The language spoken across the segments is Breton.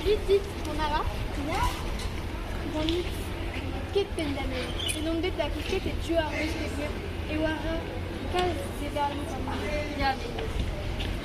Salut dit, on a ra Ganit ket pendamen. Et on bet da kouket et tu ar wech e war kalz de darvoud an Ya,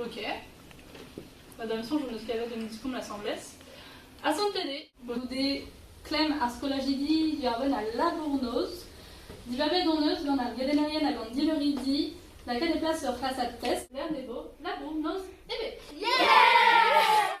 Ok. Ba da'm soñj hon eus kavet un diskoulm asambles. Asantet eo bout goude klemm ar skolajidi diwar-benn al labour-noz. Dibabet hon eus gant ar gelennerien hag an dileuridi lakaat e plas ur c'hlasad test. Lec'h n'eo labour-noz ebet. Yeah!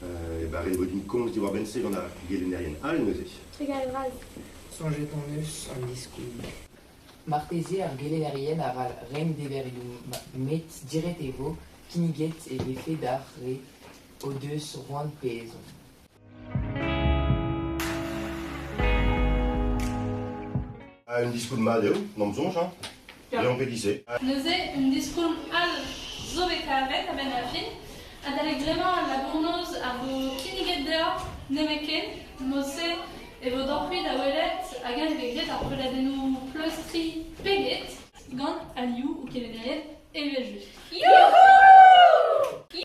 E barrez vo din komz diwar-benn-se gant ar gelennerien all neuze. Trugarez all. Soñjet hon eus an diskoulm. Marteze ar gelennerien arall renk deverioù met diret e vo kinniget e vefe d'ar re o deus c'hoant pe ezhomm. Un diskoulm mat eo, n'am soñj, hein? Lambelise. Neuze, un diskoulm all zo bet kavet a-benn ar fin, adalek bremañ al labournoz a vo kinniget deoc'h nemetken, mod-se e vo deoc'h-mui da welet hag-eñ eo bet graet ar preudadennoù pleustriñ peget gant alioù o kelennerien evel-just. Youhou!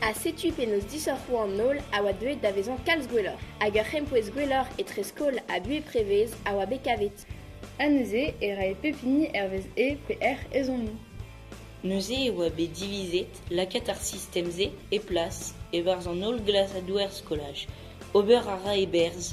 Ha setu penaos disoc'hoù an holl a oa deuet da vezañ kalz gwelloc'h, hag ur c'hempouez gwelloc'h etre skol ha buhez prevez a oa bet kavet. Ha neuze e rae pep hini hervez e pe hec'h ezhommoù. Neuze e oa bet divizet lakaat ar sistem-se e plas e-barzh an holl glasadoù er skolaj. Ober a ra e berzh